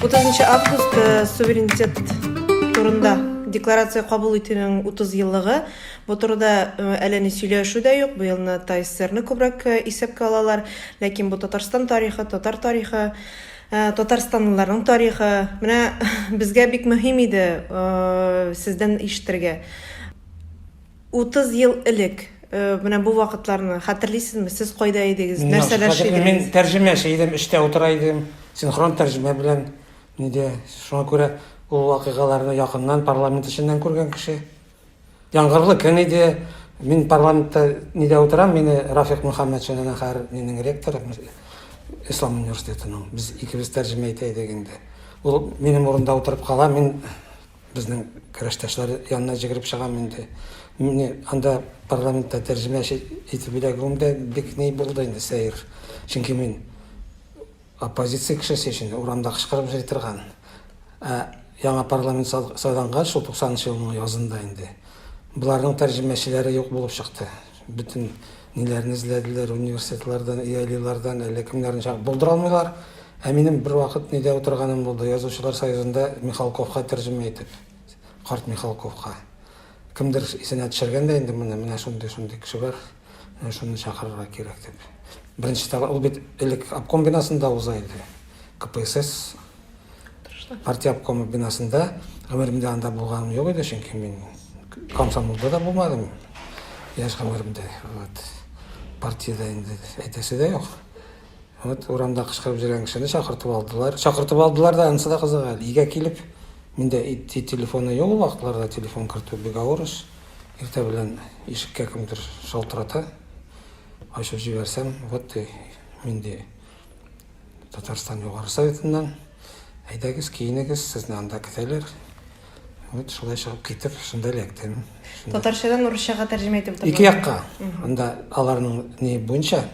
Утызынчы август э, суверенитет турында декларация кабул итүнең 30 еллыгы. Бу турыда э, әле ни сөйләшү дә юк. Бу елны ТАССРны күбрәк э, исәпкә алалар, ләкин бу Татарстан тарихы, татар тарихы, э, татарстанлыларның тарихы. Менә безгә бик мөһим иде сездән ишетергә. 30 ел элек, э, менә бу вакытларны хәтерлисезме? Сез кайда идегез? Мин яхшы Нәрсәләр хәтерлим. шидегез? Мин тәрҗемәче идем, эштә утыра идем. Синхрон тәрҗемә белән нидә. Шуңа күрә ул вакыйгаларны якыннан парламент эченнән күргән кеше. Яңгырлы көн иде. Мин парламентта нидә утырам, мине Рафик Мөхәммәтшин әнә хәзер минең ректор Ислам университетының. Без икебез тәрҗемә итә идек инде. Ул минем урында утырып кала, мин Безнең көрәштәшләр янына җигереп чыгам инде. Мине анда парламентта тәрҗемәче итеп эләгүем дә бик ни булды инде, сәер. Чөнки мин оппозиция кешесе өчен урамда кычкырып йөри торган. Ә яңа парламент сайлангач, шул 90 нчы елның язында инде, боларның тәрҗемәчеләре юк булып чыкты. Бөтен ниләрне эзләделәр, университетлардан, EILI-лардан, әллә кемнәрне чакырып, булдыра алмыйлар. Ә минем бервакыт нидә утырганым булды, Язучылар союзында Михалковка тәрҗемә итеп, карт Михалковка. Кемдер исенә төшергән дә инде моны, менә шундый-шундый кеше бар, менә шуны чакырырга кирәк дип. Беренче тапкыр, ул бит элек обком бинасында уза иде, КПСС. Партия обкомы бинасында гомеремдә анда булганым юк иде, чөнки мин комсомолда да булмадым. Яшь гомеремдә. Вот. Партиядә инде әйтәсе дә юк. Вот урамда кычкырып җөргән кешене чакыртып алдылар. Чакыртып алдылар да, анысы да кызык әле. Өйгә килеп, миндә итти телефоны юк ул вакытларда, телефон кертү бик авыр эш. Иртә белән ишеккә кемдер шалтырата. Ачып җибәрсәм, вот и миндә Татарстан Югары Советыннан. Әйдәгез, киенегез, сезне анда көтәләр. Вот шулай чыгып китеп, шунда эләктем. Татарчадан урысчага тәрҗемә итеп тордым. Ике якка. Анда аларның ни буенча,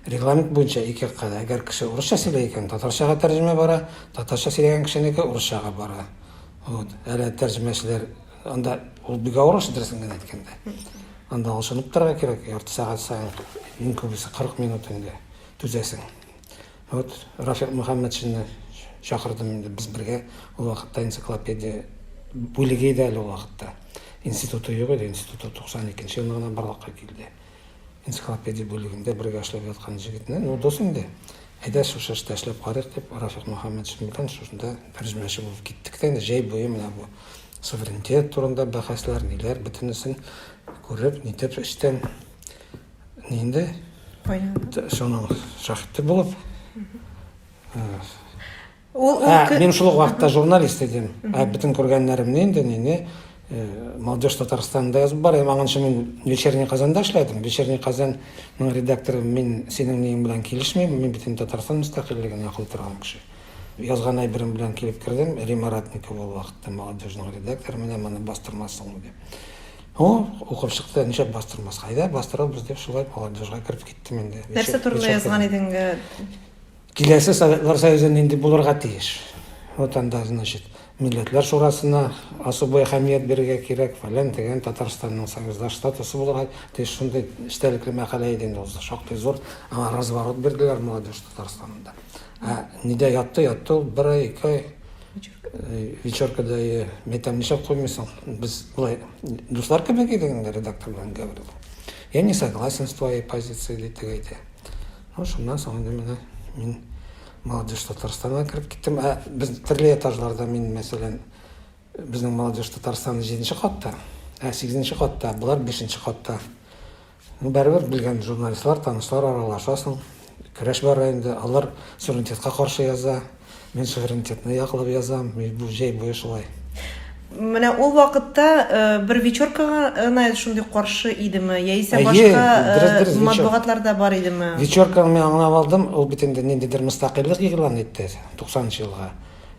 регламент буенча ике якка да. Әгәр кеше урысча сөйләй икән, татарчага тәрҗемә бара, татарча сөйләгән кешенеке урысчага бара. Вот. Әле тәрҗемәчеләр анда ул бик авыр эш дөресен генә әйткәндә. Анда алышынып торырга кирәк, ярты сәгать саен, иң күбесе 40 минут инде. Түзәсең. Вот Рафик Мөхәммәтшинны чакырдым инде, без бергә ул вакытта энциклопедия бүлеге иде әле ул вакытта. Институты юк иде, институты 92 елны гына барлыкка килде. Энциклопедия бүлегендә бергә эшләп яткан җегетне, ну дус инде. Әйдә шушы эштә эшләп карыйк дип, Рафик Мөхәммәтшин белән шушында тәрҗемәче булып киттек тә инде җәй буе менә бу суверенитет турында бәхәсләр, ниләр, бөтенесен күреп, нитеп эчтән Инде шуның шахты булып. Ул мин шул вакытта журналист идем. Ә бөтен күргәннәремне инде нине э, Молодежь Татарстанында язып бар. Һәм аңынча мин Вечерний Казанда эшләдем. Вечерний Казанның редакторы мин синең ниең белән килешмим. Мин бөтен Татарстан мөстәкыйльлеген яклый торган кеше. Язган әйберем белән килеп кердем. Рима Ратникова ул вакытта Молодежьның редакторы менә моны бастырмасың дип. Ну, укып чыкты, ничек бастырмас? Әйдә, бастырабыз дип, шулай молодежьга кереп киттем инде. Нәрсә турында язган идең? Киләсе Советлар Союзы нинди булырга тиеш? Вот анда, значит, Милләтләр шурасына особый әһәмият бирергә кирәк, фәлән дигән Татарстанның союздаш статусы булырга тиеш шундый эчтәлекле мәкалә иде инде ул. Шактый зур аңа разворот бирделәр молодежь Татарстанында. Ә нидә ятты, ятты ул бер ай, ике ай, Вечеркада метам нишләп куймыйсың? Без болай дуслар кебек идек инде редактор белән Гаврил. Я не согласен с твоей позицией дип әйтә. Ну, шуннан соң инде менә мин молодежь Татарстанга кереп киттем. Ә без төрле этажларда мин, мәсәлән, безнең молодежь Татарстан 7 катта, ә 8 катта, болар 5 катта. Барыбер белгән журналистлар, танышлар аралаша соң, көрәш бара инде. Алар суверенитетка каршы яза, мин суверенитетны яклап язам, бу җәй буе шулай. Менә ул вакытта бер вечеркага гына шундый каршы идеме, яисә башка матбугатлар да бар идеме? Вечерканы мин аңлап алдым, ул бит инде ниндидер мөстәкыйльлек игълан итте, 90 нчы елга.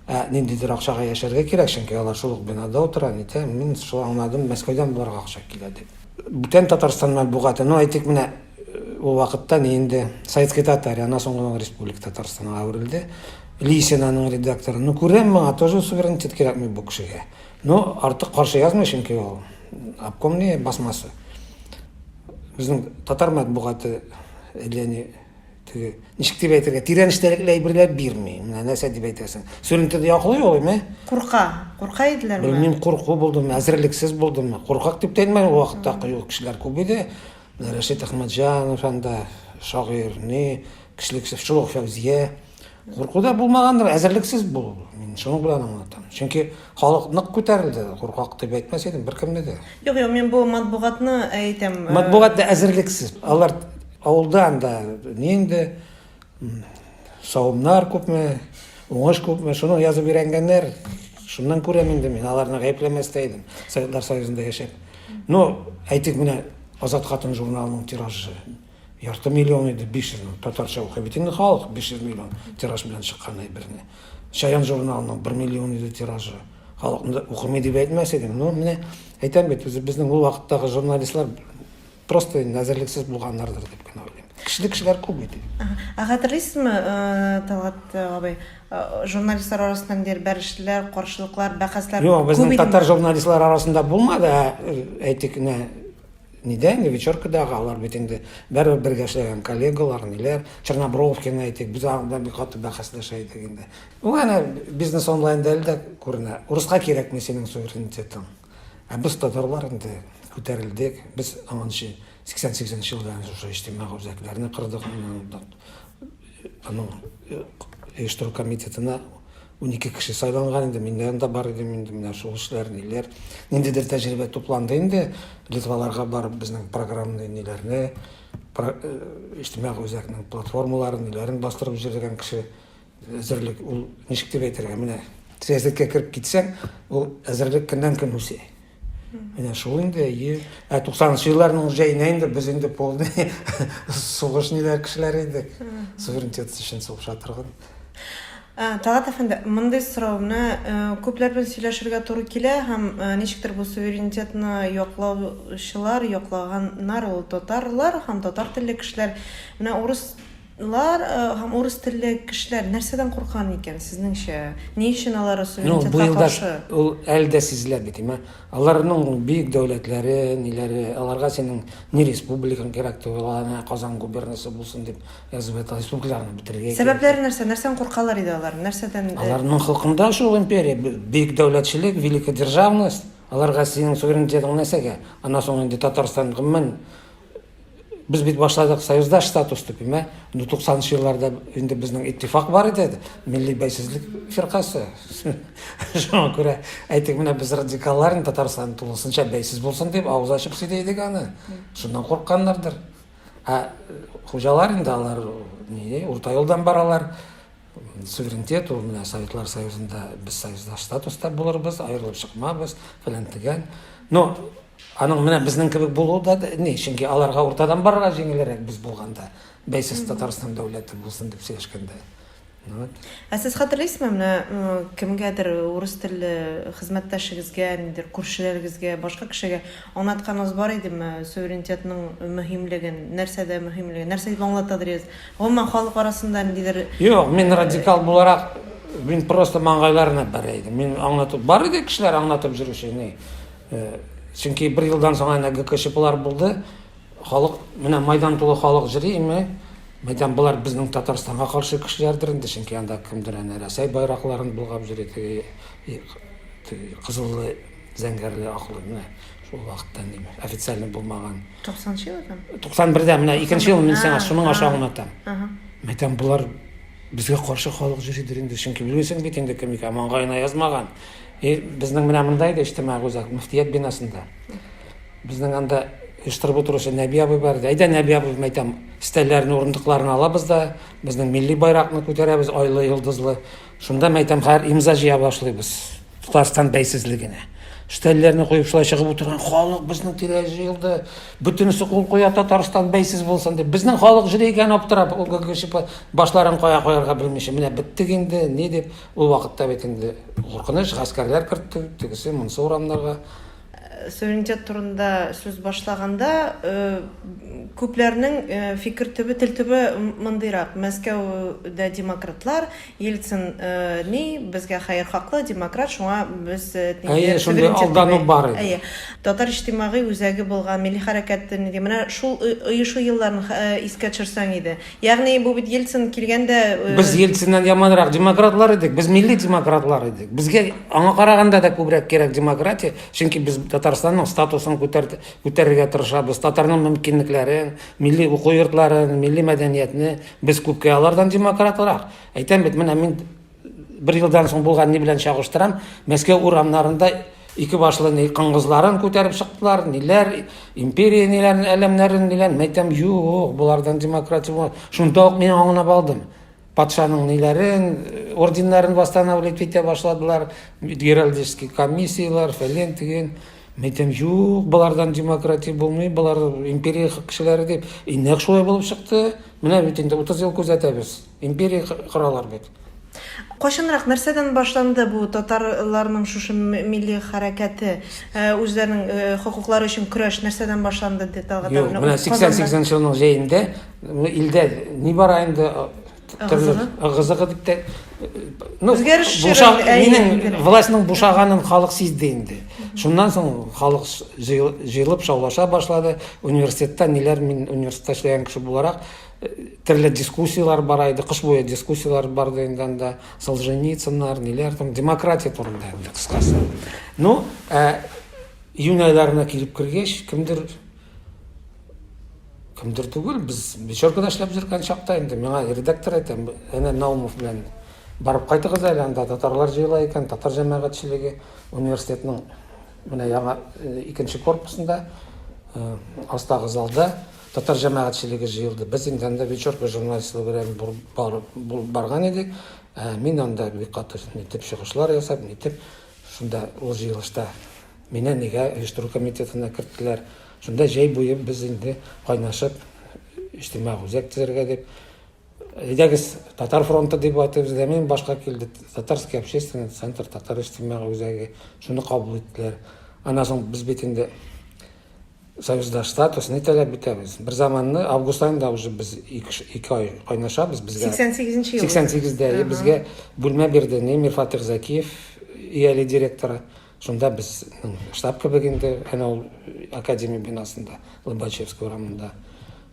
Ә ниндидер акчага яшәргә кирәк, чөнки алар шул ук бинада утыра, нитә, мин шул аңладым, Мәскәүдән боларга акча килә дип. Бүтән Татарстан матбугаты, ну әйтик менә ул вакытта ни инде Советская Татария, аннан соң гына Республика Татарстанга әверелде. Лисин аның редакторы. Ну күрәм моңа тоже суверенитет кирәкми бу кешегә. Ну артык каршы язмый, чөнки ул обкомный басмасы. Безнең татар матбугаты әллә ни Теге, ничек дип әйтергә, тирән эчтәлекле әйберләр бирми. Менә нәрсә дип әйтәсең? Сүрентеде яклый ул, әйме? Курка, курка иделәр бу. Белмим, курку булдымы, әзерлексез булдымы? Куркак дип тәймә, ул вакытта кыю кешеләр күп иде. Рәшит Әхмәтҗанов анда шагыйрь, ни, кешелексез, шул ук Фәүзия. Курку да булмагандыр, әзерлексез булу. Мин шуның белән аңлатам. Чөнки Халык нык күтәрелде, куркак дип әйтмәс идем беркемне дә. Юк, юк, мин бу матбугатны әйтәм. Э, матбугат да әзерлексез. Алар авылдан да нинди савымнар күпме, уңыш күпме, шуны язып өйрәнгәннәр. Шуннан күрәм инде мин, аларны гаепләмәс тә идем. Советлар Союзында яшәп. Ну, әйтик менә Азат хатын журналының тиражы Ярты миллион иде, 500 миллион. Татарча укый бит инде халык, 500 миллион тираж белән чыккан әйберне. Чаян журналының 1 миллион иде тиражы. Халыкны укымый дип әйтмәс идем. Ну, менә әйтәм бит, үзе безнең ул вакыттагы журналистлар просто инде әзерлексез булганнардыр дип кенә уйлыйм. Кешелек кешеләр күп иде. Ә хәтерлисезме, э, Талгат э, абый, э, журналистлар арасында ниндидер бәрешүләр, каршылыклар, бәхәсләр Юк, күп безнең иде. татар журналистлар арасында булмады, ә, әйтик, менә Нидә инде, вечеркадагы алар бит инде бәрбер бергә эшләгән коллегалар, ниләр. Чернобровкина әйтик, без анда бик каты бәхәсләшә идек инде. Бу әнә бизнес онлайнда әле дә күренә. Урыска кирәкми синең суверенитетың. Ә без татарлар инде күтәрелдек. Без анчы 88 нче елда әнә шушы иҗтимагый үзәкләрне кырдык, аның оештыру комитетына Унике кеше сайланган инде, миннән дә бар идем инде, менә шул эшләр, ниләр. Ниндидер тәҗрибә тупланды инде, Литваларга барып безнең программны, ниләрне, про, э, иҗтимагый үзәкнең платформаларын, ниләрен бастырып җирлегән кеше әзерлек, ул ничек дип әйтергә, менә сәясәткә кереп китсәң, ул әзерлек көннән көн үсә. Менә шул инде, әйе. Ә 90 елларның җәенә инде без инде полный сугыш ниләр кешеләр идек. Суверенитет өчен сугыша торган. Ә, Талат әфәнде, мондый сорауны э, күпләр белән сөйләшергә туры килә һәм э, ничектер бу суверенитетны яклаучылар, яклаганнар ул татарлар һәм татар телле кешеләр. Менә урыс Лар һәм урыс телле кешеләр нәрсәдән куркан икән, сезнеңчә? Ни өчен алар Ну, суверенитетка быел да каршы? ул әле дә сизелә бит, имә. Аларның бөек дәүләтләре, ниләре, аларга синең ни республикаң кирәк түгел, ала әнә Казан губернасы булсын дип язып ята, республикаларны бетерергә кирәк. Сәбәпләре нәрсә? Нәрсәдән куркалар иде алар? Нәрсәдән? Аларның холкында шул империя, б бөек дәүләтчелек, великодержавность. Аларга синең суверенитетың нәрсәгә? Аннан соң инде Татарстан, гомумән, Без бит башладык союздаш статус дип, мә, 90-нчы елларда инде безнең иттифак бар иде, милли бәйсезлек фиркасы. Шуңа күрә әйтик, менә без радикаллар инде Татарстан тулысынча бәйсез булсын дип авыз ачып сөйли идек аны. Шуннан куркканнардыр. Ә хуҗалар инде алар ни, урта юлдан баралар. Суверенитет ул менә Советлар Союзында без союздаш статуста булырбыз, аерылып чыкмабыз, фәлән дигән. Но Аның менә безнең кебек булуы да ни, чөнки аларга уртадан барырга җиңелрәк без булганда, бәйсез Татарстан дәүләте булсын дип сөйләшкәндә. Вот. Ә сез хәтерлисезме, менә кемгәдер урыс телле хезмәттәшегезгә, ниндер күршеләрегезгә, башка кешегә аңлатканыбыз бар идеме, суверенитетның мөһимлеген, нәрсәдә мөһимлеген, нәрсә дип аңлатадыр идегез? Гомумән халык арасында ниндидер Юк, мин радикал буларак мин просто маңгайларына бәрә идем. Мин аңлатып бар иде кешеләр аңлатып йөрүче, ни. Чөнки бер елдан соң әнә ГКЧПлар булды. Халык, менә майдан тулы халык җырыймы? Мәйтәм, болар безнең Татарстанга каршы кешеләрдер инде, чөнки анда кемдер әнә Рәсәй байракларын болгап җөрий, теге кызыллы, зәңгәрле, аклы, менә шул вакытта ни официальный булмаган. 90 елдан? 91дә менә икенче ел мин сиңа шуның аша аңлатам. Мәйтәм, болар безгә каршы халык җөридер инде, чөнки белмисең бит инде кем икән, маңгаена язмаган. И безнең менә монда иде иҗтимагый үзәк, мөфтият бинасында. Безнең анда оештырып утыручы Нәби абый бар иде. Әйдә, Нәби абый, мин әйтәм, стәлләрне, урындыкларны алабыз да, безнең милли байракны күтәрәбез, айлы, йолдызлы. Шунда, мин әйтәм, хәзер имза җыя башлыйбыз. Татарстан бәйсезлегенә. Стәлләрне куеп шулай чыгып утырган халык безнең тирә җыелды. Бөтенесе кул куя Татарстан бәйсез булсын дип. Безнең халык җыри икән аптырап, башларын кая куярга белмичә. Менә беттек инде, ни дип. Ул вакытта бит инде куркыныч, гаскәрләр кертте, тегесе, монысы урамнарга. Суверенитет турында сүз башлаганда, күпләрнең фикер төбе, тел төбе мондыйрак, Мәскәүдә демократлар, Ельцин ни, безгә хәер хаклы, демократ, шуңа без Әйе, шундый алдану бар иде. Әйе. Татар иҗтимагый үзәге булган милли хәрәкәт, менә шул оешу елларын искә төшерсәң иде. Ягъни бу бит Ельцин килгәндә э, Без Ельциннан яманрак демократлар идек, без милли демократлар идек. Безгә аңа караганда да күбрәк кирәк демократия, чөнки без Татарстанның статусын күтәрт- күтәрергә тырышабыз, татарның мөмкинлекләрен, милли уку йортларын, милли мәдәниятне без күпкә алардан демократрак. Әйтәм бит, менә мин Бер елдан соң булган ни белән чагыштырам, Мәскәү урамнарында ике башлы ни кыңгызларын күтәреп чыктылар, ниләр, империя ниләр, әләмнәрен ниләр, мәйтәм, юк, булардан демократия булмас. Шунда ук мин аңлап алдым. Патшаның ниләрен, орденнарын восстанавливать итә башладылар, геральдический комиссиялар, фәлен, тиген. Мәйтәм, юк, булардан демократия булмый, булар империя кешеләре дип. И нәкъ шулай булып чыкты. Менә бит инде 30 ел күзәтәбез. Империя коралар бит. Кайчанрак, нәрсәдән башланды бу татарларның шушы милли хәрәкәте, үзләренең хокуклары өчен көрәш нәрсәдән башланды, ди Талгат абый? Юк, менә 88 нче елның җәендә илдә нибары инде ыгызыгы дип тә ну минем властьның бушаганын халык сизде инде шуннан соң халык җыелып шаулаша башлады университетта ниләр мин университетта эшләгән кеше буларак Төрле дискуссияләр бара иде, кыш буе дискуссияләр барды инде анда, Солженицыннар, ниләр там, демократия турында инде кыскасы. Ну, ә, июнь айларына килеп кергәч, кемдер кемдер түгел, без вечеркада эшләп жүргән чакта инде миңа редактор әйтә, әнә Наумов белән барып кайтыгыз әле анда татарлар җыела икән, татар җәмәгатьчелеге университетның менә яңа икенче корпусында, астагы залда Татар җәмәгатьчелеге җыелды. Без инде анда Вечерка журналистлыгы белән булып барган идек. Мин анда бик каты итеп чыгышлар ясап, нитеп, шунда ул җыелышта мине нигә оештыру комитетына керттеләр. Шунда җәй буе без инде кайнашып, иҗтимагый үзәк төзергә дип, әйдәгез, Татар фронты дип айтып эзләмим, башка килде, Татарский общественный центр, Татар иҗтимагый үзәге, шуны кабул иттеләр. Аннан соң без бит инде Союзда статус не таләп итәбез. Бер заманны август айында уже без ике ай кайнашабыз безгә. 88 нче ел. 88 дә безгә бүлмә бирде Немир Фатих Закиев ияле директора. Шунда без штаб кебек инде, әнә ул академия бинасында, Лобачевский урамында.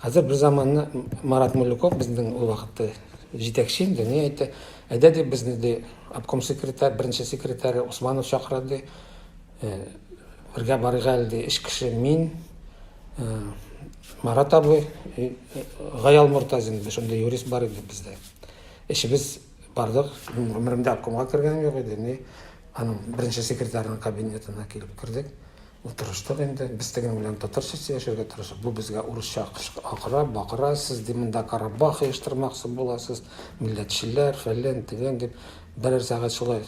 Хәзер бер заманны Марат Мулюков безнең ул вакытта җитәкче инде, ни әйтте, әйдә дип безне ди обком секретарь, беренче секретарь Усманов чакыра ди. Бергә барыйк әле, ди эш кеше мин, Марат абый, Гаял Мортазин, шундый юрист бар иде бездә. Эшебез бардык, гомеремдә обкомга кергәнем юк иде, ни аның беренче секретарының кабинетына килеп кердек. Утырыштык инде, без теге белән татарча сөйләшергә тырышып, бу безгә урысча акыра, бакыра, сез ди монда Карабах оештырмакчы буласыз, милләтчеләр, фәлән, төгән дип, берәр сәгать шулай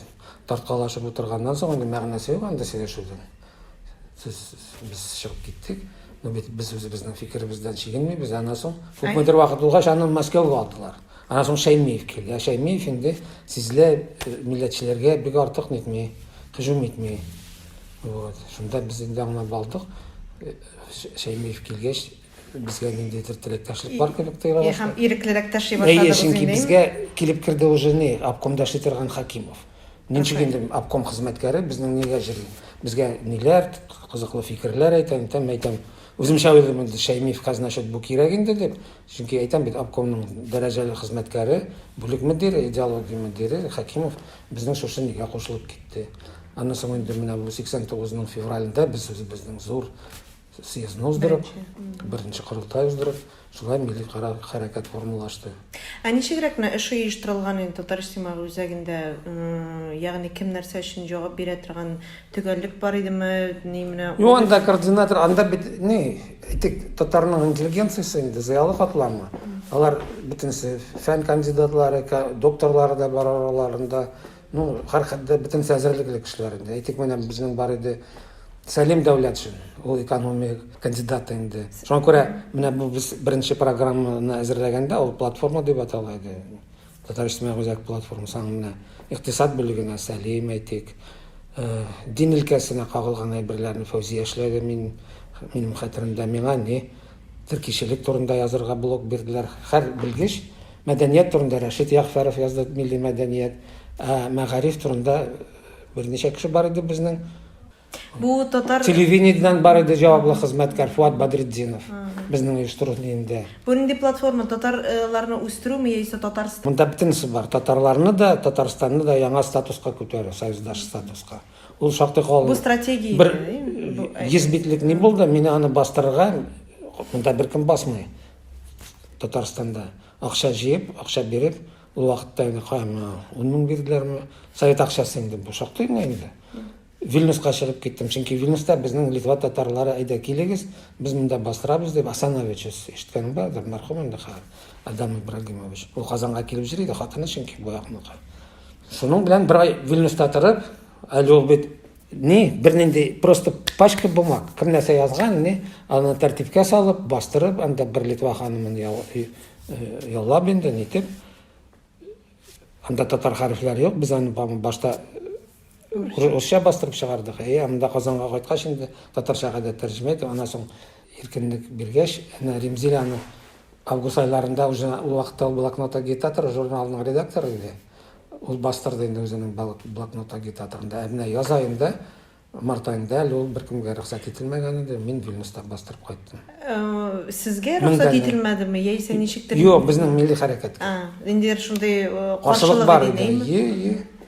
Тарткалашып утырганнан соң инде мәгънәсе юк анда сөйләшүдән. Сез без чыгып киттек. Ну бит без үзебезнең фикеребездән чигенмибез. Аннан соң күпмедер вакыт булгач аны Мәскәүгә алдылар. Аннан соң Шәймиев килде. Ә Шәймиев инде сизелә э, милләтчеләргә бик артык нитми, һөҗүм итми. Вот. Шунда без инде аңлап алдык. Э, Шәймиев килгәч Безгә ниндидер теләктәшлек бар кебек тоела башлады. Һәм иреклерәк тәши башладыгыз инде. Әйе, чөнки безгә килеп керде уже ни, обком дәши торган Хакимов. Ничек инде обком хезмәткәре безнең нигә җыри? Безгә ниләр кызыклы фикерләр әйтә, әйтәм, әйтәм. Үземчә уйлыйм инде, Шәймиев казначет бу кирәк инде дип. Чөнки әйтәм бит, обкомның дәрәҗәле хезмәткәре, бүлек мөдире, идеология мөдире Хакимов безнең шушы нигә кушылып китте. Аннан соң инде менә бу 89 ның февралендә без үзебезнең зур съездны уздырып, беренче, беренче корылтай уздырып, шулай милли карар хәрәкәт формалашты. Ә ничегрәк менә эш оештырылган инде Татар иҗтимагы үзәгендә, ягъни кем нәрсә өчен җавап бирә торган төгәллек бар идеме, ни менә? Ну, анда координатор, анда бит ни, әйтик, татарның интеллигенциясе инде зыялы катламы. Алар бөтенесе фән кандидатлары, докторлары да бар араларында, Ну, һәрхәлдә бөтенесе әзерлек элек эшләр инде. Әйтик, менә безнең бар иде Сәлим Дәүләтшин, ул экономия кандидаты инде. Шуңа күрә менә бу без беренче программаны әзерләгәндә ул платформа дип атала иде. Татарстан үзәк платформасы аңа менә икътисад бүлегенә Сәлим әйтик, э, дин өлкәсенә кагылган әйберләрне Фәүзия эшләде мин минем хәтеремдә миңа ни Тел кишелек турында язырга блок бирделәр. Хәр белгеч, мәдәният турында Рәшит Ягъфәров язды, милли мәдәният, ә мәгариф турында берничә кеше бар иде безнең. Бу татар... Телевидениедән бар иде җаваплы хезмәткәр Фуат Бадретдинов. Безнең оештыру нинди? Бу нинди платформа? Татарларны үстерүме яисә Татарстан? Монда бөтенесе бар. Татарларны да, Татарстанны да яңа статуска күтәрү, союздаш статуска. Ул шактый калын. Бу стратегия. Бер 100 битлек ни булды, мин аны бастырырга монда беркем басмый. Татарстанда акча җыеп, акча биреп, ул вакытта инде кайма 10 мең бирделәрме? Совет акчасы инде бу шактый гына инде. Вильнюска чыгып киттем, чөнки Вильнюста безнең Литва татарлары әйдә килегез, без монда бастырабыз дип Асанович ишеткәнең бардыр, мәрхүм инде хәзер Адам Ибрагимович. Ул Казанга килеп йөри иде, хатыны чөнки бу якныкы. Шуның белән бер ай Вильнюста торып, әле ул бит ни, бернинди просто пачка бумаг, кем нәрсә язган, ни, аны тәртипкә салып, бастырып, анда бер Литва ханымын э, яллап инде, нитеп. Анда татар хәрефләр юк, без аны башта урысча бастырып чыгардык. Әй, анда Казанга кайткач инде татарчага да тәрҗемә итеп, аннан соң иркенлек биргәч, әнә Римзилә аны август айларында уже ул вакытта ул блокнот агитатор журналының редакторы иде. Ул бастырды инде үзенең блокнот агитаторында. Ә менә яз аенда, март аенда әле ул беркемгә рөхсәт ителмәгән иде. Мин Вильнюста бастырып кайттым. Э, сезгә рөхсәт ителмәдеме? Яисә ничектер? Юк, безнең милли хәрәкәт. А, инде шундый э, каршылык бар иде. Е, е.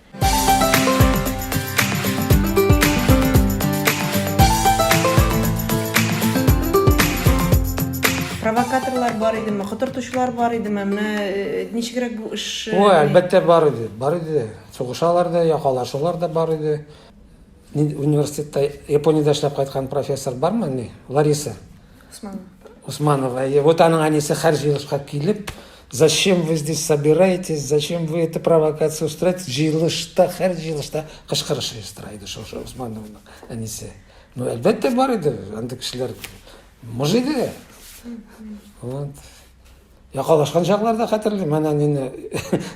Провокаторлар бар идеме, котыртучылар бар идеме? Менә э, ничегрәк бу эш Ой, әлбәттә бар иде, бар иде. Сугышалар да, якалашулар да бар иде. Университетта Япониядә эшләп кайткан профессор бармы ни? Лариса. Усманова. Усманова. И вот аның әнисе һәр җыелышка килеп, зачем вы здесь собираетесь, зачем вы эту провокацию устраиваете? Җыелышта, һәр җыелышта кычкырыш оештыра иде шушы Усмановның әнисе. Ну, әлбәттә бар иде, андый кешеләр мыжыды. Вот. Якалашкан чаклар да хәтерлим. Менә нинди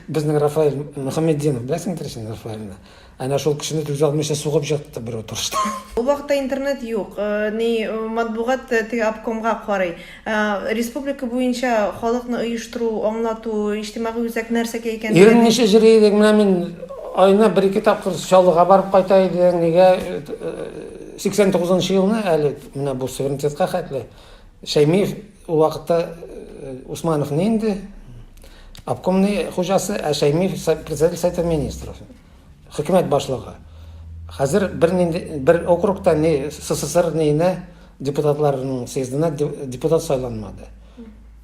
безнең Рафаэль Мөхәммеддинов, беләсеңдер син Рафаэльне. Әнә шул кешене түзә алмыйча сугып җатты бер утырышта. Ул вакытта интернет юк. Э, ни э, матбугат э, теге обкомга карый. Республика буенча халыкны оештыру, аңлату, иҗтимагый үзәк нәрсәгә икән. Ирен ничә җыри идек, менә мин айына бер ике тапкыр Чаллыга барып кайта идең. Нигә 89 елны әле менә бу суверенитетка хәтле Шәймиев Ул вакытта э, Усманов не инде, обкомный хуҗасы, ә Шәймиев председатель совета министров, хөкүмәт башлыгы. Хәзер бер, бер округта ни СССР нейне депутатларының съездына депутат сайланмады.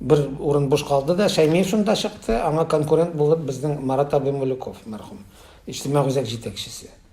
Бер урын буш калды да, Шәймиев шунда чыкты, аңа конкурент булып безнең Марат абый Мулюков, мәрхүм, иҗтимагый үзәк җитәкчесе.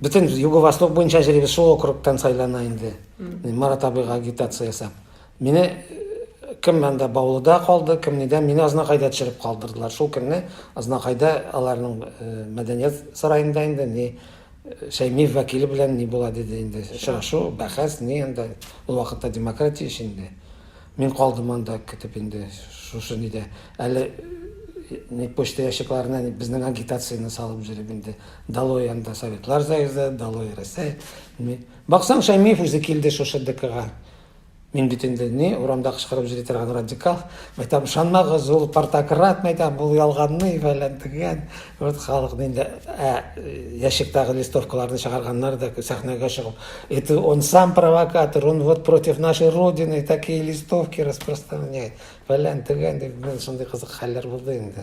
бөтен юго восток буенча җыйбыз шул округтан сайлана инде марат абыйга агитация ясап мине э, кем монда баулыда калды кем нидә мине азнакайда төшереп калдырдылар шул көнне азнакайда аларның э, мәдәният сараенда инде не э, шәймиев вәкиле белән ни була диде инде очрашу бәхәс ни анда ул вакытта демократия өчен инде Мин калдым анда көтеп инде шушы нидә. Әле не почта ящикларына безнең агитацияне салып җөрим инде. Долой анда Советлар Союзы, долой Рәсәй. Ни. Баксаң, Шәймиев үзе килде шушы ДКга. Мин бит инде ни урамда кычкырып җөри торган радикал. Мәйтәм, ышанмагыз, ул тартакрат, мәйтәм, ул ялганный, фәлән, төгән. Вот халык инде ә ящиктагы листовкаларны чыгарганнар да сәхнәгә чыгып, это он сам провокатор, он вот против нашей родины такие листовки распространяет. Фәлән төгән дип мен шундый кызык хәлләр булды инде.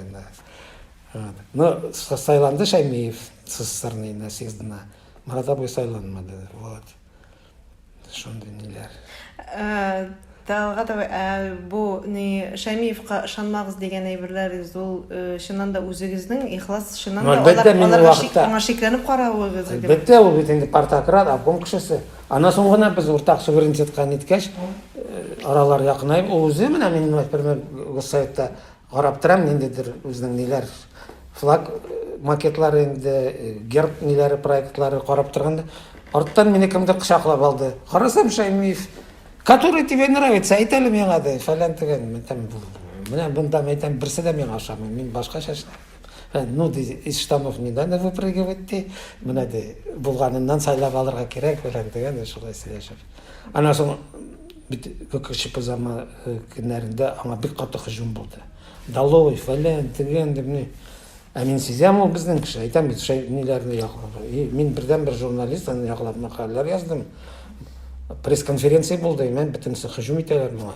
Но сайланды Шәймиев СССРның съездына. Марат абый сайланмады. Вот. Шундый ниләр. Э, Талгат абый, ә бу ни Шәмиевка ышанмагыз дигән әйберләрегез ул э, чыннан да үзегезнең ихлас чыннан да Әлбәттә, алар- мин аларга вакытта- шик- аңа шикләнеп каравыгыз иде. Әлбәттә, ул бит инде партократ, обком кешесе. Аннан соң гына без уртак суверенитетка ниткәч, э, аралар якынайып, ул үзе менә минем, например, госсоветта Карап торам, ниндидер үзенең ниләр, флаг макетлары инде, герб ниләре проектлары карап торганда, арттан мине кемдер кочаклап алды. Карасам, Шәймиев, который тебе нравится, әйт әле миңа, ди, фәлән төгән. Мин там, менә монда мәйтәм, берсе дә миңа ошамый, мин башкача эшләм. Э, ну, ди, из штанов не надо выпрыгивать, ди, менә ди, булганыннан сайлап алырга кирәк, фәлән төгән, шулай сөйләшеп. Аннан соң бит күкче пызама э, көннәрендә аңа бик каты хожум булды. Далой, фәлән, тегән дип ни. Ә мин сизәм ул безнең кеше, әйтәм бит, шәй ниләрне яклап. И мин бердән бер журналист, аны яклап мәкаләләр яздым. Пресс-конференция булды, мен битемсе хожум итәләр моңа.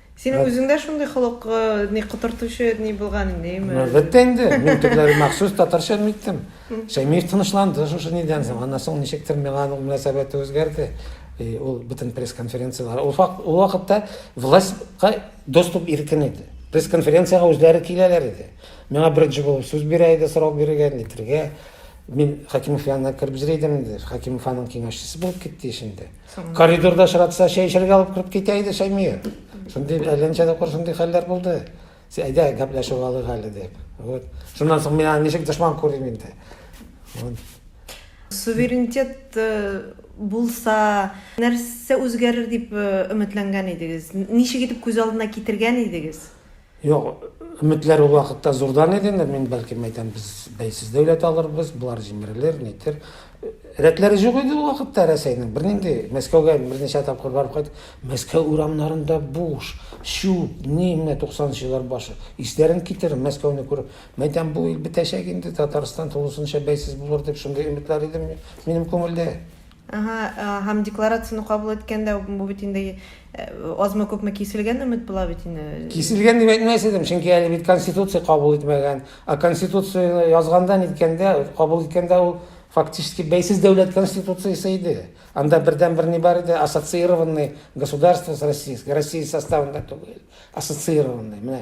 Синең үзең дә шундый холык ни котыртучы ни булган инде, яме. Әлбәттә инде. Мин төпләре махсус татарча әйттем. Шәймиев тынычланды шушы нидән соң. Аннан соң ничектер миңа аның мөнәсәбәте үзгәрде. И ул бөтен пресс-конференцияләр. Ул факт, ул вакытта властька доступ иркен иде. Пресс-конференциягә үзләре киләләр иде. Миңа беренче булып сүз бирә иде, сорау бирергә, нитергә. Мин Хакимов янына кереп йөри идем инде. Хакимов аның киңәшчесе булып китте ич инде. Коридорда очратса, чәй эчәргә алып кереп китә иде Шәймия. Шундый әлләнчә дә шундый хәлләр булды. Әйдә, гәпләшеп алыйк әле дип. Вот. Шуннан соң мин аны ничек дошман күрим инде. Вот. Суверенитет э, булса, нәрсә үзгәрер дип э, өметләнгән идегез? Ничек итеп күз алдына китергән идегез? Юк, өметләр ул вакытта зурдан иде инде, мин бәлкем әйтәм, без бәйсез дәүләт алырбыз, болар җимерелер, нитер. Рәтләре юк иде ул вакытта Рәсәйнең, бернинди. Мәскәүгә берничә тапкыр барып кайт, Мәскәү урамнарында буш, чүп, ни менә 90 нчы еллар башы. Исләрен китер, Мәскәүне күреп, мин әйтәм, бу ил бетәчәк инде, Татарстан тулысынча бәйсез булыр дип шундый өметләр иде минем күңелдә. Ага, һәм декларацияне кабул иткәндә бу бит инде азмы күпме киселгән өмет була бит инде. Киселгән дип әйтмәс идем, чөнки әле бит конституция кабул итмәгән. А конституцияне язганда, ниткәндә, кабул иткәндә ул фактически бәйсез дәүләт конституциясе иде. Анда бердәнбер ни бар иде, ассоциированный государство с Россией, Россия составында түгел, ассоциированный. Менә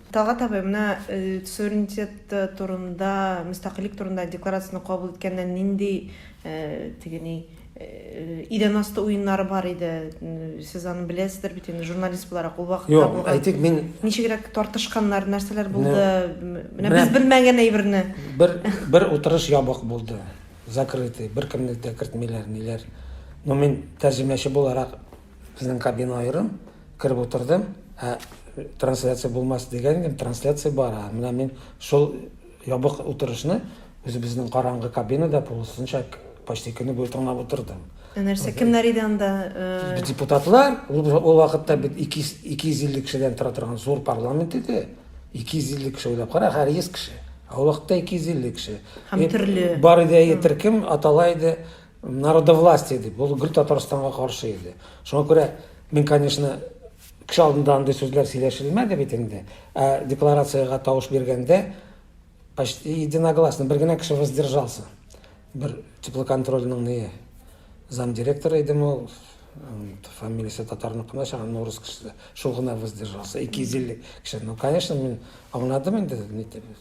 Талгат абый, менә суверенитет турында, мөстәкыйльлек турында декларацияне кабул иткәндә нинди теге ни идән асты уеннары бар иде? Сез аны беләсездер бит инде, журналист буларак, ул вакытта Юк, булган. Әйтик, мин... Ничегрәк тартышканнар, нәрсәләр булды? Менә без белмәгән әйберне. Бер, бер утырыш ябык булды, закрытый, беркемне дә кертмиләр, ниләр. Но мин тәрҗемәче буларак Безнең кабина аерым, кереп утырдым, ә трансляция булмас дигән идем, трансляция бара. Менә мин шул ябык утырышны үзебезнең караңгы кабинада полусынча почти көне буе тыңлап утырдым. Ә нәрсә, кемнәр иде анда? Э, депутатлар, ул вакытта бит 250 кешедән тора торган зур парламент иде. 250 кеше уйлап кара, һәр 100 кеше. Ә ул вакытта 250 кеше. Һәм төрле. Бар иде, әйтер кем, атала иде. Народовластие дип, ул гөр Татарстанга каршы иде. Шуңа күрә мин, конечно, кеше алдында андый сүзләр сөйләшелмәде бит инде. Ә декларациягә тавыш биргәндә почти единогласно бер генә кеше воздержался. Бер теплоконтрольның не замдиректор иде ул, фамилиясе татарның кына чагы, но рус кеше. Шул гына воздержался. 250 кеше. Ну, конечно, мин аңладым инде,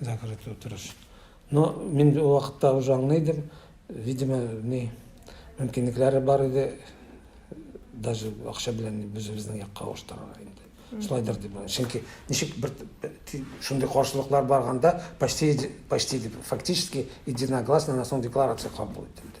Закрыт утырыш. Но мин ул вакытта уже аңлыйдым, видимо, ни мөмкинлекләре бар иде, даже акча белән үзебезнең якка авыштырырга инде. Шулайдыр дип уйлыйм. Чөнки ничек бер шундый каршылыклар барганда почти почти фактически единогласно на сон декларация кабул ителде.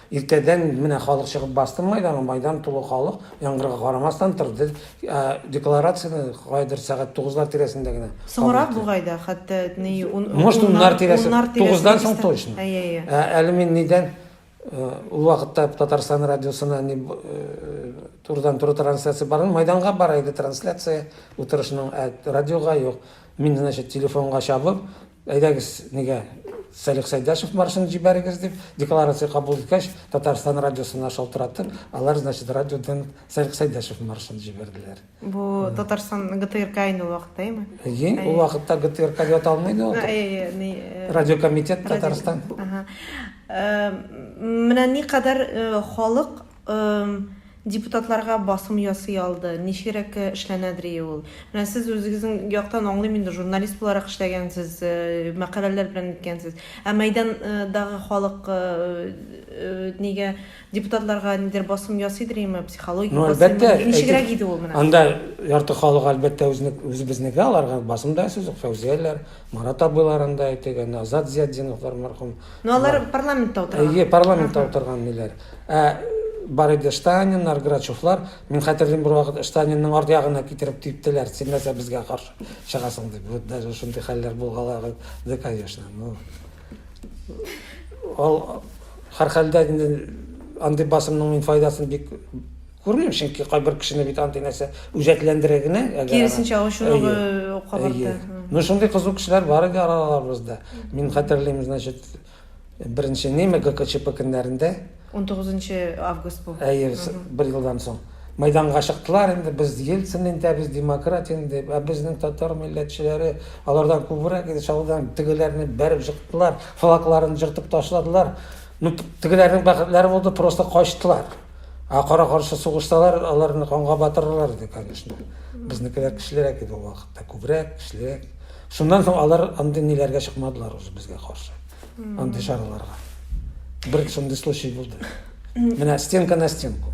Иртәдән менә халык чыгып басты Майданга, Майдан тулы халык, яңгырга карамастан, торды. Декларацияне каядыр сәгать тугызлар тирәсендә генә кабул Соңрак итте. бугай да, хәтта ни ун, Может, уннар тирәсе, уннар тирәсе тугыздан соң дибез дә. точно. Әйе, әйе. Ә әле мин нидән, ул вакытта Татарстан радиосына ни турыдан-туры трансляция бармы, Майданга бара иде трансляция утырышның, ә радиога юк. Мин, значит, телефонга чабып, Әйдәгез, нигә Салих Сәйдәшев маршын җибәрегез, дип, декларация кабул иткәч, Татарстан радиосына шалтыратып, алар, значит, радиодан Салих Сәйдәшев маршын җибәрделәр. Бу Татарстан ГТРК инде ул вакытта, әйме? Әйе, ул вакытта ГТРК дип аталмый иде ул. Әйе, ни... Э, Радиокомитет Татарстан. Ага. Э, менә никадәр э, халык депутатларга басым ясый алды, ничегрәк эшләнәдерие ул. Менә сез үзегезнең яктан аңлыйм инде, журналист буларак эшләгәнсез, мәкаләләр белән иткәнсез. Ә мәйдандагы халык нигә депутатларга нидер басым ясыйдырмы, психологик ну, басым? Әлбәттә, ничегрәк иде ул менә? Анда ярты халык әлбәттә үзне үзебезнеке аларга басым да сүз юк, фәүзияләр, Марат абыйларын да әйтик, әнә Азат Зиятдиновлар мәрхүм. Ну алар парламентта утырган. Әйе, парламентта утырган диләр. Ә бар иде Штаниннар, Грачевлар. Мин хәтерлим бер вакыт Штанинның арт ягына китереп типтеләр. Син нәрсә безгә каршы чыгасың дип. Вот даже шундый хәлләр булгалады, конечно. Ну. Ол һәрхәлдә инде андый басымның мин файдасын бик Күрмим, чөнки кайбер кешене бит андый нәрсә үҗәтләндерә генә. Киресенчә ачулыгы кабарта. Ну шундый кызу кешеләр бар иде араларыбызда. Мин хәтерлим, значит, беренче неме ГКЧП көннәрендә. 19 август бу. Әйе, бер елдан соң. Майданга чыктылар инде, без Ельцин инде, без демократ инде, ә безнең татар милләтчеләре алардан күбрәк иде, чалыдан тегеләрне бәреп чыктылар, флагларын җыртып ташладылар. Ну, тегеләрнең бәхетләре булды, просто качтылар. Ә кара-каршы сугышталар, аларны канга батыралар иде, конечно. Безнекеләр көчлерәк иде ул вакытта, күбрәк, көчлерәк. Шуннан соң алар андый ниләргә чыкмадылар уже безгә каршы. Андый чараларга. Бер шундый случай булды. Менә стенка на стенку.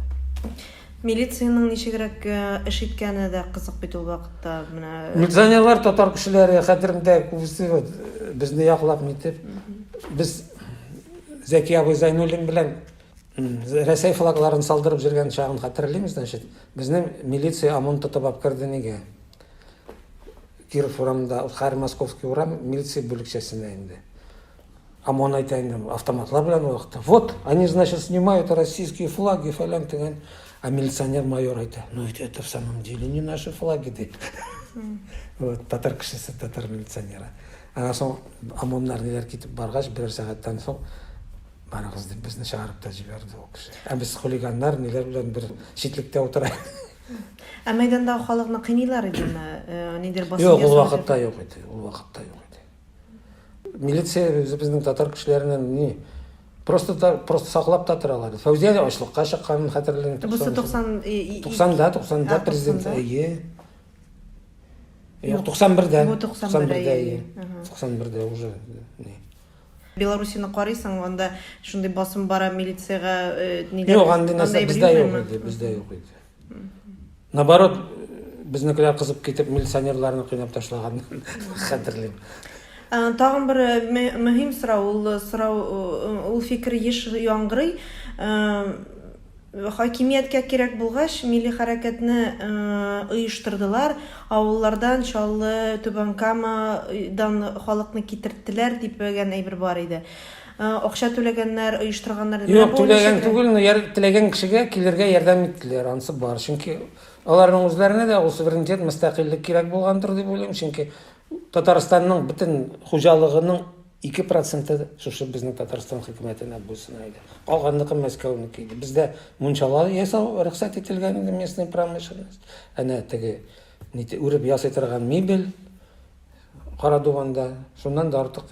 Милициянең ничегрәк э, эш иткәне дә кызык бит ул вакытта. Менә Милиционерлар татар кешеләре хәтерендә күбесе вот, безне яклап нитеп. Без Зәки абый Зайнуллин белән Рәсәй флагларын салдырып җөргән чагын хәтерлим, значит, безнең милиция ОМОН тотып алып керде нигә? Киров урамында, Хәр Московский урам милиция бүлекчәсенә инде. ОМОН әйтә инде, автоматлар белән ул вакытта. Вот, они, значит, снимают российские флаги, фәлән дигән. А милиционер майор әйтә, ну ведь это в самом деле не наши флаги, ди. Вот, татар кешесе, татар милиционеры. Аннан соң ОМОНнар ниләр китеп баргач, берәр сәгатьтән соң Барыгыз дип безне чыгарып та җибәрде ул кеше. Ә без хулиганнар ниләр белән бер читлектә утыра. Ә мәйдандагы халыкны кыйныйлар идеме? Э, нидер басып Юк, ул вакытта юк иде. Ул вакытта юк иде. Милиция безнең татар кешеләреннән ни просто та, просто саклап та торалар. Фәүзия дә ачлыкка чыкканын хәтерлим. Бусы 90 90-да, 90-да президент әйе. Юк, 91-дә. 91-дә, 91-дә уже. Беларусины карыйсың, анда шундый басым бара, милициягә ниләр. Юк, андый нәрсә бездә юк иде, бездә юк иде. Наоборот, безнекеләр кызып китеп милиционерларны кыйнап ташлаган хәтерлим. Тагын бер мөһим сорау, ул сорау, ул фикер еш яңгырый. Хакимияткә кирәк булгач, милли хәрәкәтне оештырдылар, авыллардан, Чаллы, Түбән Кама, дан халыкны китерттеләр, дипгән әйбер бар иде. Акча түләгәннәр, оештырганнар дип. Юк, түләгән түгел, но теләгән кешегә килергә ярдәм иттеләр, анысы бар. Чөнки аларның үзләренә дә ул суверенитет, мөстәкыйльлек кирәк булгандыр дип уйлыйм, чөнки Татарстанның бөтен хуҗалыгының Ике проценты шушы безнең Татарстан хөкүмәтенә буйсына иде. Калганныкы Мәскәүнеке иде. Бездә мунчалар ясау рөхсәт ителгән иде, местная промышленность. Әнә теге нити үреп ясый торган мебель Карадуганда шуннан да артык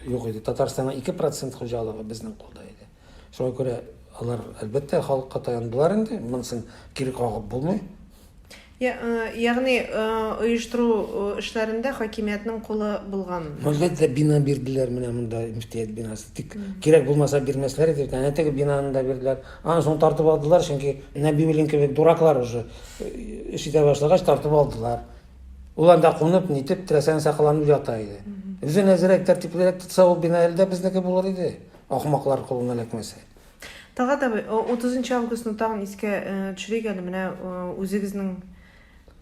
юк иде. Татарстанның 2 процент хуҗалыгы безнең кулда иде. Шуңа күрә алар, әлбәттә, халыкка таяндылар инде, монысын кире кагып булмый. Я, э, ягъни э, оештыру э, эшләрендә хакимиятнең кулы булган. Әлбәттә, бина бирделәр менә монда мөфтият бинасы. Тик кирәк булмаса бирмәсләр иде. Әнә теге бинаны да бирделәр. Аны соң тартып алдылар, чөнки Нәбиуллин кебек дураклар уже э, эш итә башлагач тартып алдылар. Ул анда кунып, нитеп, теләсәң сакаланып ята иде. Үзе нәзерәк, тәртиплерәк тотса, ул бина әле дә безнеке булыр иде. Ахмаклар кулына эләкмәсә. Талгат абый, 30 августны тагын искә төшерик әле. Менә үзегезнең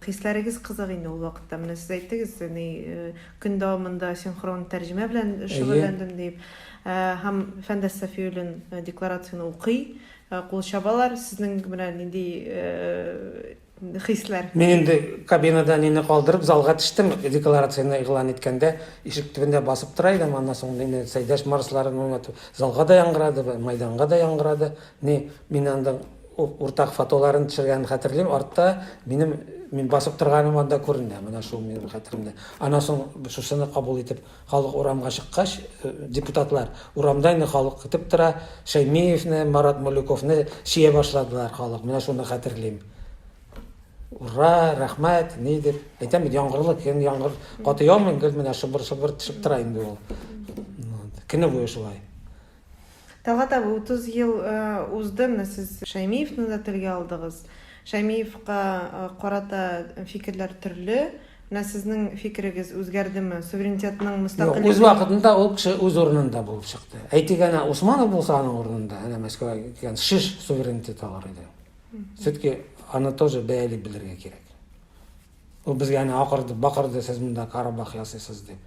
хисләрегез кызык инде ул вакытта. Менә сез әйттегез, ни көн дәвамында синхрон тәрҗемә белән шөгыльләндем дип. Һәм Фәндәс Сафиуллин декларацияне укый, кул чабалар. Сезнең менә нинди хисләр? Мин инде кабинада әнине калдырып, залга төштем. Декларацияне игълан иткәндә, ишек төбендә басып тора идем. Аннан соң мине Сәйдәш Марсларын уйнату залга да яңгырады, мәйданга да яңгырады. Ни, мин андың уртак фотоларын төшергәнен хәтерлим, артта минем мин басып торганым анда күренә. Менә шул минем хәтеремдә. Аннан соң шушыны кабул итеп, Халык урамга чыккач, депутатлар, урамда инде халык көтеп тора, Шәймиевне, Марат Мулюковны чия башладылар халык, менә шуны хәтерлим. Ура, рәхмәт, ни дип. Әйтәм бит, яңгырлы көн, яңгыр каты яумый, гел менә шыбыр-шыбыр төшеп тора инде ул. Көне буе шулай. Талгат абый, 30 ел узды, менә сез Шәймиевны да телгә алдыгыз. Шәймиевка карата фикерләр төрле. Менә сезнең фикерегез үзгәрдеме? Суверенитетның мөстәкыйль Үз вакытында ул кеше үз урынында булып чыкты. Әйтик, әнә Усманов булса аның урынында, әнә Мәскәүгә килгән шеш суверенитет алыр иде. Все-таки аны тоже бәяли белергә кирәк. Ул безгә әнә акырды, бакырды, сез монда карабах ясыйсыз дип.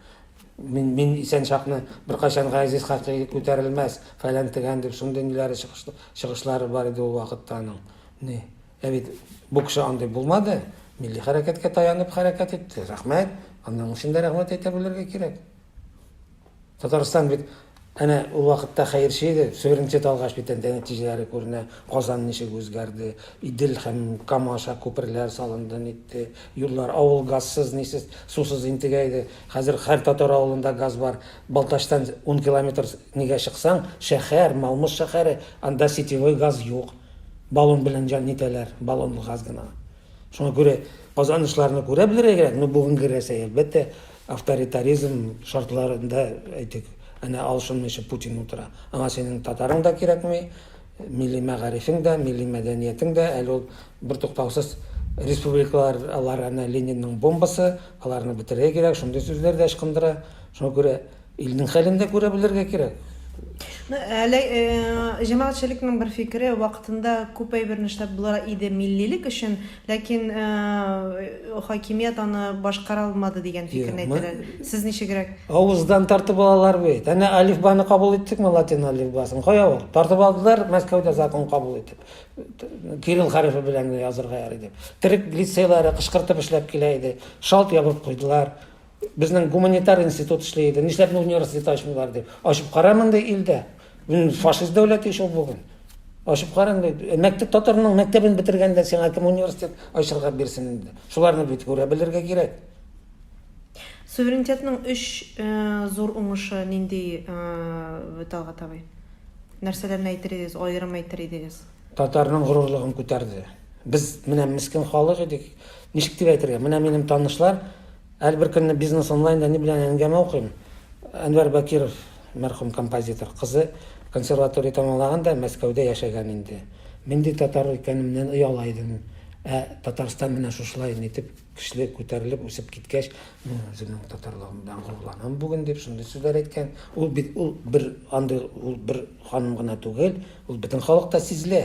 Мин, мин исән чакны беркайчан Газиз Хакый күтәрелмәс, фәлән тегән дип шундый ниләре чыгыш, чыгышлары бар иде ул вакытта аның. Ни? Ә бит бу кеше андый булмады. Милли хәрәкәткә таянып хәрәкәт итте. Рәхмәт. Аның өчен дә рәхмәт әйтә белергә кирәк. Татарстан бит әнә ул вакытта хәерче иде, суверенитет алгач бит әнде нәтиҗәләре күренә, Казан ничек үзгәрде, Идел һәм Кама аша күперләр салынды, нитте, юллар, авыл газсыз, нисез, сусыз интегә иде, хәзер һәр татар авылында газ бар, Балтачтан ун километр нигә чыксаң, шәһәр, Малмыж шәһәре, анда сетевой газ юк, баллон белән җан нитәләр, баллонлы газ гына. Шуңа күрә Казан очларны күрә белергә кирәк, ну бүгенге Рәсәй, әлбәттә, Авторитаризм шартларында, әйтик, әнә алышынмыйча Путин утыра. Аңа синең татарың да кирәкми, милли мәгарифең дә, милли мәдәниятең дә, әле ул бертуктаусыз республикалар, алар әнә Ленинның бомбасы, аларны бетерергә кирәк, шундый сүзләр дә ычкындыра. Шуңа күрә. Илнең хәлен дә күрә белергә кирәк. Әле җәмәгатьчелекнең бер фикере, вакытында күп әйберне эшләп була иде миллилек өчен, ләкин хакимият аны башкара алмады дигән фикерне әйтәләр. Сез ничегрәк? Авыздан тартып алалар бит. Әнә алифбаны кабул иттекме латин алифбасын? Кая ул? Тартып алдылар Мәскәүдә закон кабул итеп. Кирилл хәрефе белән язырга ярый дип. Төрек лицейлары кышкыртып эшләп килә иде. Шалт ябып куйдылар. Безнең гуманитар институт эшли иде. Нишләп университет ачмыйлар дип. Ачып кара мондый илдә. Фашист дәүләте шул бүген. Ачып кара инде. Э, мәктәп татарның мәктәбен бетергәндә сиңа кем университет ачырга бирсен инде. Шуларны бит күрә белергә кирәк. Суверенитетның өч э, зур уңышы нинди э, Талгат абый? Нәрсәләрне әйтер идегез, аерым әйтер идегез? Татарның горурлыгын күтәрде. Без менә мискен халык идек. Ничек дип әйтергә? Менә минем танышлар әле бер көнне бизнес онлайнда ни белән әңгәмә укыйм. Әнвәр Бакиров мәрхүм композитор кызы консерватория тәмамлаган да Мәскәүдә яшәгән инде. Мин ди татар икәнемнән ояла идем. Ә Татарстан менә шушылай итеп Кешелек күтәрелеп үсеп киткәч, мин үземнең татарлыгым белән горурланам бүген дип шундый сүзләр әйткән. Ул бит ул бер андый ул бер ханым гына түгел, ул бөтен халыкта сизелә.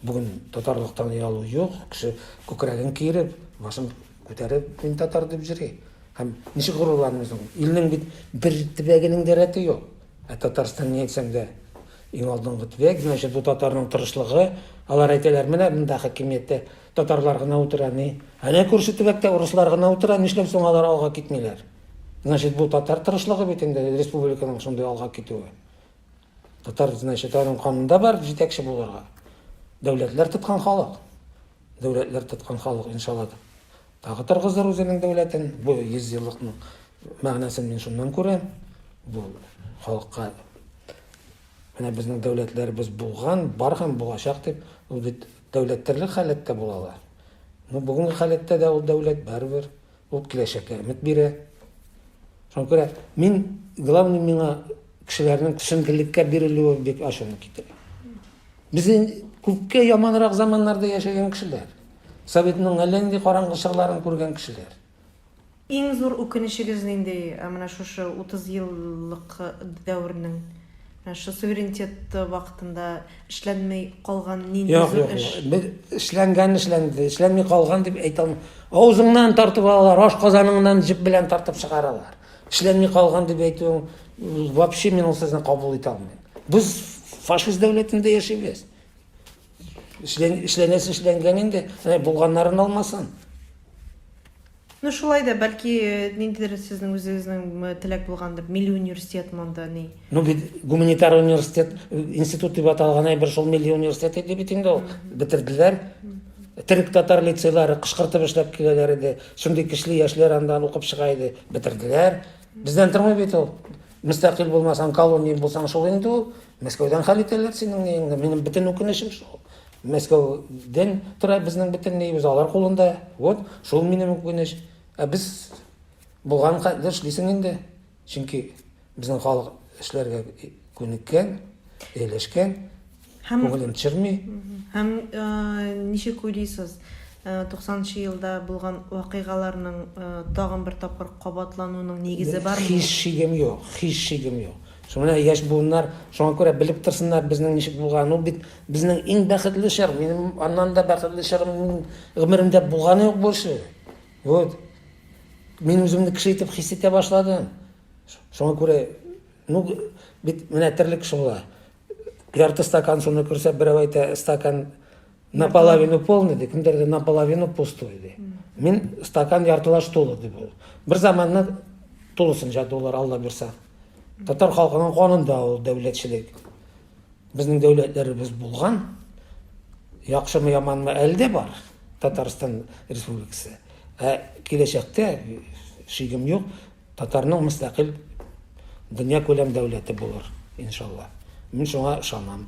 Бүген татарлыктан оялу юк, кеше күкрәген киереп, башын күтәреп, мин татар дип йөри. Һәм ничек горурланыйм соң? Илнең бит бер төбәгенең дә рәте юк. Ә Татарстан ни әйтсәң дә, иң алдынгы төбәк, значит, бу татарның тырышлыгы. Алар әйтәләр, менә монда хакимияттә Татарлар гына утыра ни? Әнә күрше төбәктә урыслар гына утыра, нишләп соң алар алга китмиләр? Значит, бу татар тырышлыгы бит инде республиканың шундый алга китүе. Татар, значит, аның канында бар җитәкче булырга. Дәүләтләр тоткан халык. Дәүләтләр тоткан халык, иншалла, тагы торгызыр үзенең дәүләтен. Бу 100 еллыкның мәгънәсен мин шуннан күрәм. Бу халыкка менә безнең дәүләтләребез булган, бар һәм булачак дип, ул бит Дәүләт төрле халәттә була ала. Ну, бүгенге халәттә дә ул дәүләт, барыбер. Ул киләчәккә өмет бирә. Шуңа күрә мин, главный миңа кешеләрнең төшенкелеккә бирелүе бик ачуны китерә. Без күпкә яманрак заманнарда яшәгән кешеләр. Советның әллә нинди караңгы чорларын күргән кешеләр. Иң зур үкенечегез нинди э, менә шушы 30 еллык э, дәвернең? Менә шу суверенитет вакытында эшләнмей калган нинди Юк, зур юк, эш? юк. Без эшләнгән эшләнде, эшләнми калган дип әйтә алмыйм. Авызыңнан тартып алалар, аш казаныңнан җеп белән тартып чыгаралар. Эшләнми калган дип әйтүең м, вообще мин ул сезне кабул итә алмыйм. Без фашист дәүләтендә яшибез. Эшләнәсе эшләнгән инде, булганнарын алмасын. Ну шулай да, бәлки э, ниндидер сезнең үзегезнең э, теләк булгандыр, милли университет монда ни? Ну бит гуманитар университет, э, институт дип аталган әйбер шул милли университет иде бит инде ул. Бетерделәр. Төрек татар лицейлары кышкыртып эшләп киләләр иде. Шундый кишле яшьләр андан укып чыга иде. Бетерделәр. Бездән тормый бит ул. Мөстәкыйль булмасаң, колония булсаң шул инде ул. Мәскәүдән хәл итәләр синең ниеңне. Минем бөтен үкенечем шул. Мәскәүдән тора безнең бөтен ниебез алар кулында. Вот, шул минем үкенеч. Ә без булган хәтле эшлисең инде. Чөнки безнең халык эшләргә күнеккән, ияләшкән, Һәм- күңелен төшерми. Һәм э, ничек уйлыйсыз, э, 90 елда булган вакыйгаларның э, тагын бер тапкыр кабатлануының нигезе бармы? Һич шигем юк, һич шигем юк. Шуңа менә яшь буыннар шуңа күрә белеп торсыннар безнең ничек булганын. Ул бит безнең иң бәхетле чор. Минем аннан да бәхетле чорым минем гомеремдә булганы юк больше. Вот. Мин үземне кеше итеп хис итә башладым. Шуңа күрә ну бит менә терлек шулай. Ярты стакан суны күрсә, берәү әйтә, стакан наполовину полный ди кемдерде наполовину пустой ди мин стакан яртылаш тулы ди бул бир заманны тулысын жадуулар алла буйрса татар халкының канында ул дәүләтчелек безнең дәүләтләребез булган яхшымы яманмы әле дә бар татарстан республикасы ә киләчәктә шигем юк Татарның мөстәкыйль дөньякүләм дәүләте булыр, иншалла. Мин шуңа ышанам.